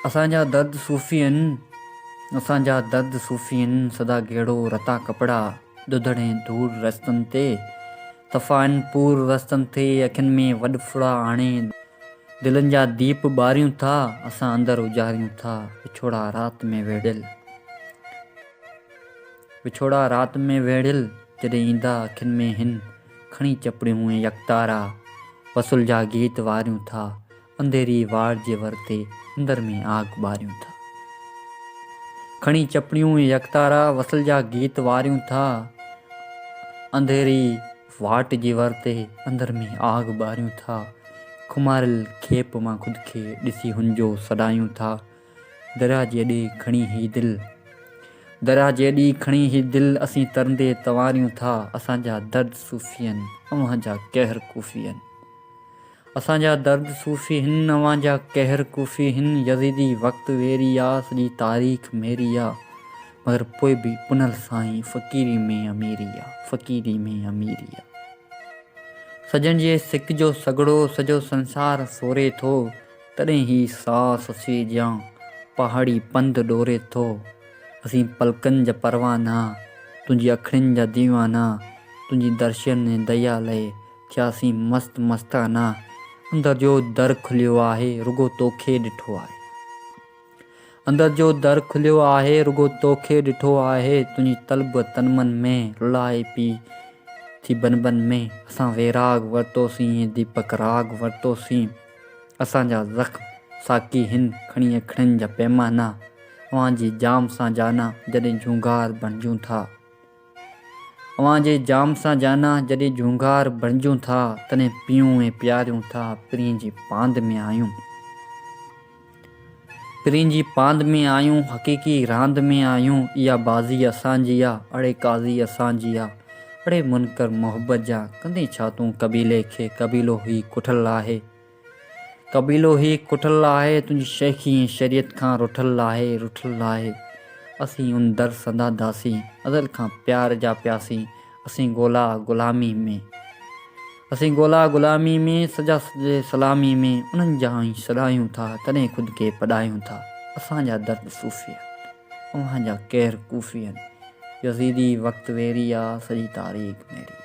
اسان جا درد صوفي ان اسان جا درد صوفي ان سدا گيڙو رتا ڪپڙا ڏڌڙ ۽ ڌوڙ رستن تي صفا ان پور رستن تي اکين ۾ وڏ ڦڙا آڻي دلين جا ديپ ٻاريون ٿا اسان اندر اجاريون ٿا وڇوڙا رات ۾ ويڙهيل وڇوڙا رات ۾ ويڙهيل جڏهن ايندا اکين ۾ هن کڻي چپڙيون ۽ يڪتارا وصل جا گيت واريون ٿا انڌيري واڙ جي ور تي اندر ۾ آگ ٻاريون ٿا. کڻي چپڙيون يڪتارا وصل جا گيت واريون ٿا. انڌيري واٽ جي ور تي اندر ۾ آگ ٻاريون ٿا. کماريل کيپ مان خود کي ڏسي هنجو سڏايون ٿا. درياهه جي اڏي کڻي هي دل درياهه جي اڏي کڻي هي دل اسين ترندي تنواريون ٿا. اسان جا درد صوفين اوهان جا قهر ڪوفين. اسان جا درد صوفي هن، اوهان جا قهر ڪوفي هن، يزيدي وقت ويري آ، سڄي تاريخ ميري آ، مگر پوء به پنهل سائين فقيري ۾ اميري آ، فقيري ۾ اميري آ. سڄڻ جي سڪ جو سگهڙو سڄو سنسار سوري ٿو، تڏهن هي ساهه سسئي جيان پهاڙي پنڌ ڏوري ٿو. اسين پلڪن جا پروانا، تنهنجي اکڙين جا ديوانا، تنهنجي درشن ۽ ديا لئي ٿياسين مست مستانه، اندر جو در کليو آهي رڳو توکي ڏٺو آهي. اندر جو در کليو آهي رڳو توکي ڏٺو آهي تنهنجي طلب تن من ۾ رلائي پي ٿي بن بن ۾، اسان ويراڳ ورتوسين ۽ ديپڪ راڳ ورتوسين، اسان جا زخم ساقي هن کڻي اکڙين جا پيمانا، اوهان جي جام سان جانا جڏهن جهونگار بڻجون ٿا. اوهان جي جام سان جانا، جڏهن جهونگار بڻجون ٿا، تڏهن پيئون ۽ پياريون ٿا، پرين جي پاند ۾ آهيون. پرين جي پاند ۾ آهيون، حقيقي راند ۾ آهيون، اها بازي اسان جي آ، اڙي قاضي اسان جي آ، اڙي منڪر محبت جا، ڪندين ڇا تون قبيلي کي، قبيلو هي ڪٺل آهي. قبيلو هي ڪٺل آهي، تنهنجي شيخي ۽ شريعت کان رٺل آهي، رٺل آهي. اسين ان در سندا داسين، ازل کان پيار جا پياسين، اسين ڳولا غلامي ۾. اسين ڳولا غلامي ۾، سجا سجي سلامي ۾، انهن جا آئين سڏايون ٿا، تڏهن خود کي پڏايون ٿا. اسان جا درد صوفين، اوهان جا قهر ڪوفين، يزيدي وقت ويري آ، سڄي تاريخ ميري آ.